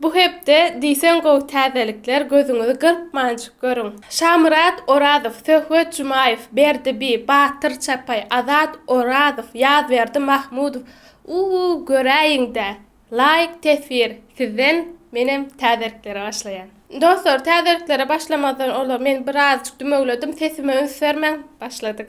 Bu hepde diýseň gowy täzelikler gözüňizi gyrpmanç görüň. Şamyrat Orazow, Söhbet Jumaýew, Berdi bi, Batyr Çapaý, Azat Orazow, Ýazberdi Mahmudow uuu göräýiňdä laýk teswir sizden menem täzeliklere başlaýan. Dostlar täzeliklere başlamazdan ozal men bir azjyk dümewledim sesime üns bermäň başladyk.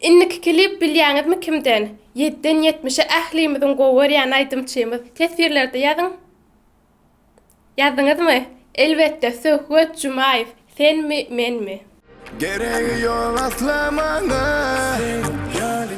Indiki klip bilýäňizmi kimden? Ýediden ýetmişe ählimiziň gowy görýän aýdymçymyz. Teswirlerde ýazyň. Ýazdyňyzmy? Elbetde, Söhbet Jumaýew, Senmi, menmi? Geregi ýok asla maňa.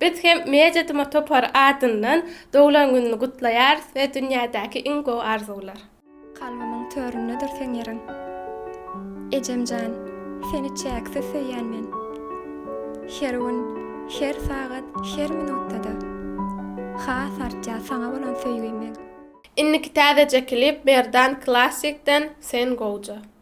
Biz hem Media Tuma topary adyndan doglan gününi gutlaýarys we dünýädäki iň gowy arzuwlar. Kalbymyň töründedir seň ýeriň. Ejemjan, seni çäksiz söýýän men. Her gün, her sagat, her minutda-da. Has artýar saňa bolan söýgim meň. Indiki täzeje klip Merdan Classic den Sen gowja.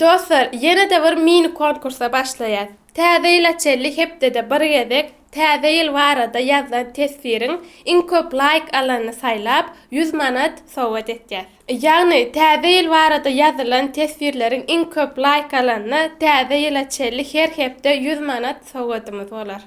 Dostlar ýene-de bir mini konkursa başlaýas. Täze ýyla çenli hepdede bir gezek Täze ýyl barada ýazlan teswiriň iň köp laýk alanyny saýlap, ýüz manat sowgat etýäs. Ýagny Täze ýyl barada ýazylan teswirleriň iň köp laýk alanyna Täze ýyla çenli her hepde ýüz manat sowgadymyz bolar.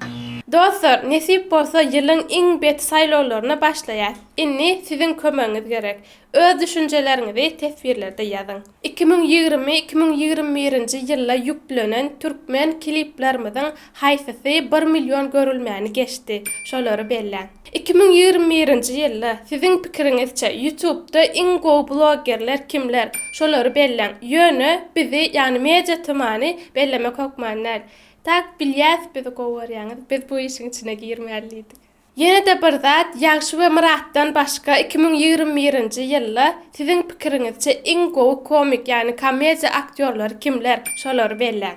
Dostlar nesip bolsa ýylyň iň bet saýlawlaryna başlaýas. Indi siziň kömegiňiz gerek. Öz düşünjeleriňizi teswirlerde ýazyň. Iki müň ýigrimi, iki müň ýigrimi birinji ýylda ýüklenen türkmen kliplerimiziň haýsysy bir million görülmäni geçdi? Şolary belläň. Iki müň ýigrimi birinji ýylda, siziň pikiriňizçe, Ýutubda iň gowy bloggerler kimler? Şolary belläň. Ýöne bizi, ýagny Media TM-ny bellemek hökman däl. Tak bilýäs, bizi gowy görýäňiz. Biz bu işiň içine girmälidik. Ýene-de bir zat, Ýagşy we Myratdan başga iki müň ýigrimi birinji ýylda siziň pikiriňizçe iň gowy komik ýagny komediýa aktýorlary kimler? Şolary belläň.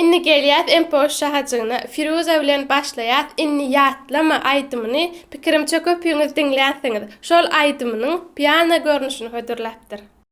Indi gelýäs MPOş şahajygyna. Firuza bilen başlaýas Inni ýatlama aýdymyny pikirimçe köpüňiz diňlänsiňiz. Şol aýdymynyň piano görnüşini hödürläpdir.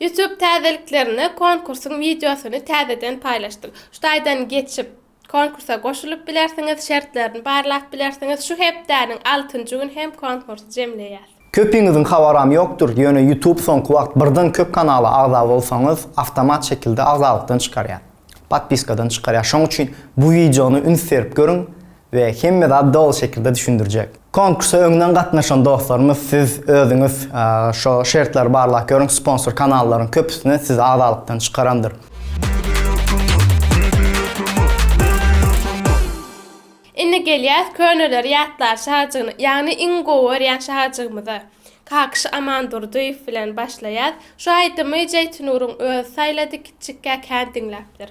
Youtube täzeliklerine konkursyň wideosyny täzeden paýlaşdym. Şu taýdan geçip, konkursa goşulyp bilersiňiz, şertlerini barlap bilersiňiz. Şu hepdäniň altynjy gün hem konkursy jemleýäs. Köpiňiziň habaram ýokdur, ýöne Youtube soňky wagt birden köp kanala agza bolsaňyz, awtomat şekilde agzalykdan çykarýar. Podpiskadan çykarýar. Şoň üçin bu wideony üns berip görüň, we hemme zady doly şekilde düşündirjek. Konkursa öňden gatnaşan dostlarymyz siz özüňiz şo şertleri barlap görüň sponsor kanallaryň köpüsini sizi agzalykdan çykarandyr. Indi gelýäs köneleri ýatlar şajygyna ýagny iň gowy görýän şajygymyza Kakyş Amandurdyýew bilen başlaýas şu aýdymy Jeýtinuryň özi saýlady kiçjikkä kän diňläpdir.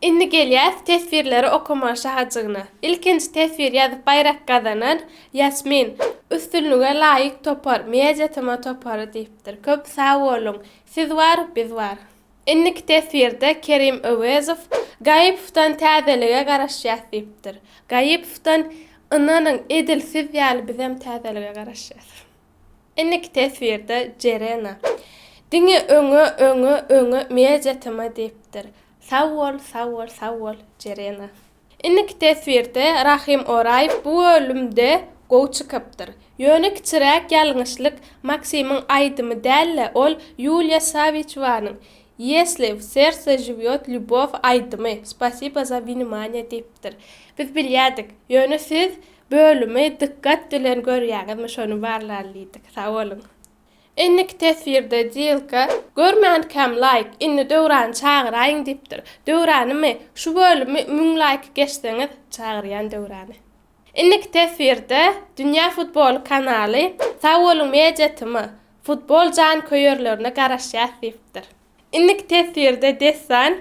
Indi gelýäs teswirleri okamaga şahajygyna. Ilkinji teswir ýazyp baýrak gazanan, Ýasmin. Üstünlige laýyk topar, Media tma topary diýipdir. Köp sag boluň. Siz bar, biz bar. Indiki teswirde Kerim Öwezow Gaýypowdan täzelige garaşýas diýipdir. Gaýypowdan ynanyň edil siz ýaly bizem täzelige garaşýas. Indiki teswirde Jerena Diňe öňe öňe öňe media tma diýipdir. Sag bol sag bol sag bol Jerena. Indiki teswirde Rahym Oraýew bu bölümde gowy çykypdyr. Ýöne kiçiräk ýalňyşlyk Maksimiň aýdymy däl-de, ol Ýuliýa Sawiçewanyň Ýesli w serce žiwýot lýubow aýdymy, Spasibo za winimaniýe diýipdir. Biz bilýädik, ýöne siz bölümi dykgat bilen görýäňizmi şony barlalydyk. Sag boluň. Indiki teswirde Dilka, Görmänkäm laýk, indi Döwrany çagyraýyň diýipdir. Döwranymy? Şu bölümi müň laýky geçseňiz, çagyrýan Döwrany. Indiki teswirde Dünýä futboly kanaly, Sag boluň media tm, Futbol janköýerlerine garaşýas diýipdir. Indiki teswirde dessan.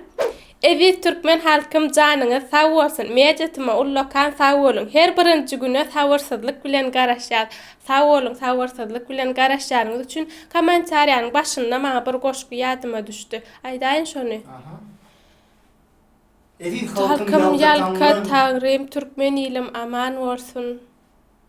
Eziz türkmen halkym janyňyz sag bolsun media tymy ullakan sag boluň her birinji güne sabyrsyzlyk bilen garaşýas sag boluň sabyrsyzlyk bilen garaşýanyňyz üçin komentariýanyň başynda maňa bir goşgy ýadyma düşdi aýdaýyn şony Eziz halkym ýalka taňrym türkmen ilim aman bolsun.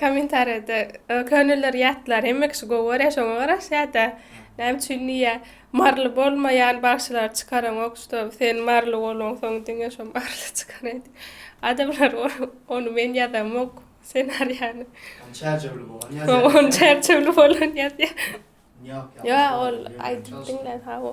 Kommentariýada könelilere ýatlar, hemme kişi gowy görýär, şoňa garaşýar-da. Näme üçin diýýär, maryly bolmaýan bagşylary çykaraňok, şuda sen maryly bolaňsoň diňe şo maryly çykaraý diýip. Adamlar ony men ýazamok senariýany. Ony çärjewli bolan ýazýar. Ony çärjewli bolan ýazýar. Ýok, ýok. Ýa ol aýdyp diňlän hawa.